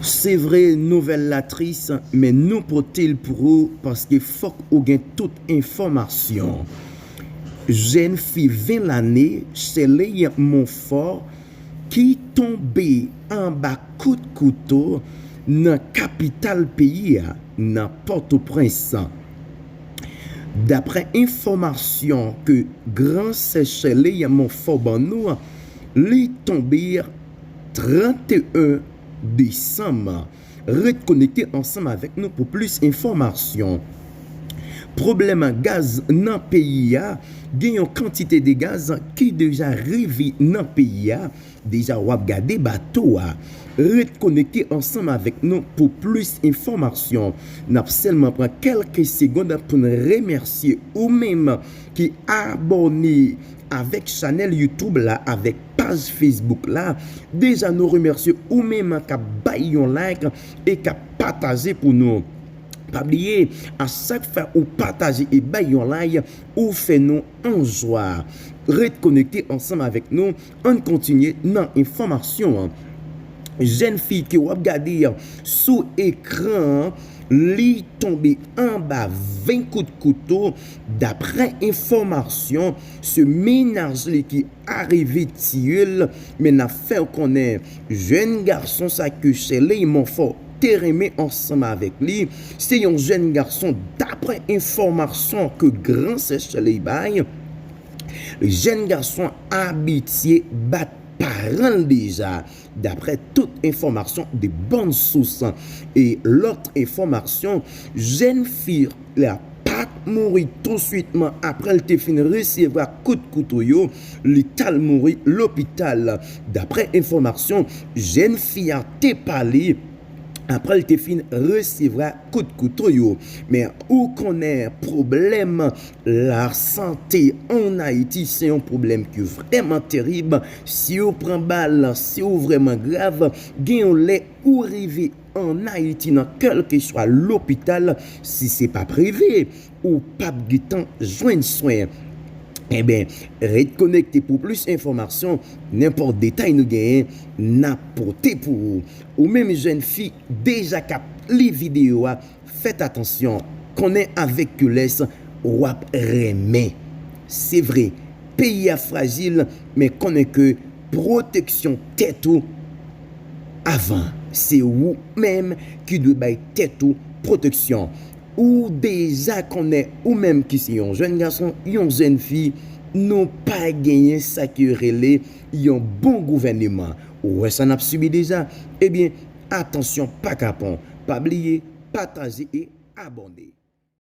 Se vre nouvèl la tris men nou pote l pou ou paske fòk ou gen tout enfòmasyon. Jèn fi 20 lane Sheley Monfort ki tonbe anba kout kouto nan kapital peyi a nan Pòtoprens. Daprè enfòmasyon ke gran sè Sheley Monfort ban nou, li tonbe. 31 desanm. Ret konekte ansanm avèk nou pou plis enfòmasyon. Pwoblèm gaz nan peyi a, gen yon kantite de gaz ki deja rive nan peyi a, deja wap gade bato a. Ret konekte ansanm avèk nou pou plis enfòmasyon. Nap sèlman pran kèlke segond pou n remèsye ou menm ki abòne avèk chanèl YouTube la avèk. paj Facebook la deja nou remèsye ou menm kap bay yon like e kap pataje pou nou pa bliye a chak fwa ou pataje e bay yon like ou fè nou an jwa ret konekte ansanm avèk nou ann kontinye nan enfòmasyon an jèn fi ke wap gade sou ekran an li tonbe anba 20 kout kouto daprè enfòmasyon se mennaj li ki. arive tiye l men nap fè w konnen jèn gason sa ke Sheley Monfort te renmen ansanm avèk li se yon jèn gason daprè enfòmasyon ke gran sè Sheley bay jèn gason abitye bat paran l deja Daprè tout enfòmasyon de bon sous e lòt enfòmasyon, jèn fi la pat mouri tousuitman aprè l te fin resevwa kout kouto yo, li t al mouri lopital. Daprè enfòmasyon, jèn fi a te pale aprè l te fin resevwa kout kouto yo. Men ou konnen pwoblèm La sante an Ayiti se yon pwoblèm ki vrèman terib, si ou pran bal, si ou vrèman grav, gen yon lè ou rive an Ayiti nan kèlkeswa lopital, si se pa prive, ou pap gen tan jwenn swen. Enben, ret konekte pou plis enfòmasyon, nenpòt detay nou genyen, nap pote pou ou. Ou menm jèn fi deja kap li videyo a, Fèt atansyon, konnen avèk kilès wap renmen. Se vre, peyi a frajil men konnen ke pwoteksyon tèt ou avan. Se ou menm ki dwe bay tèt ou pwoteksyon. Ou deja konnen ou menm ki se yon jèn gason, yon jèn fi, nou pa genyen sa ki rele yon bon gouvèneman. Ou wè sa nap sibi deja? Ebyen, Atansyon pa kapon, pa bliye pataje e abòne.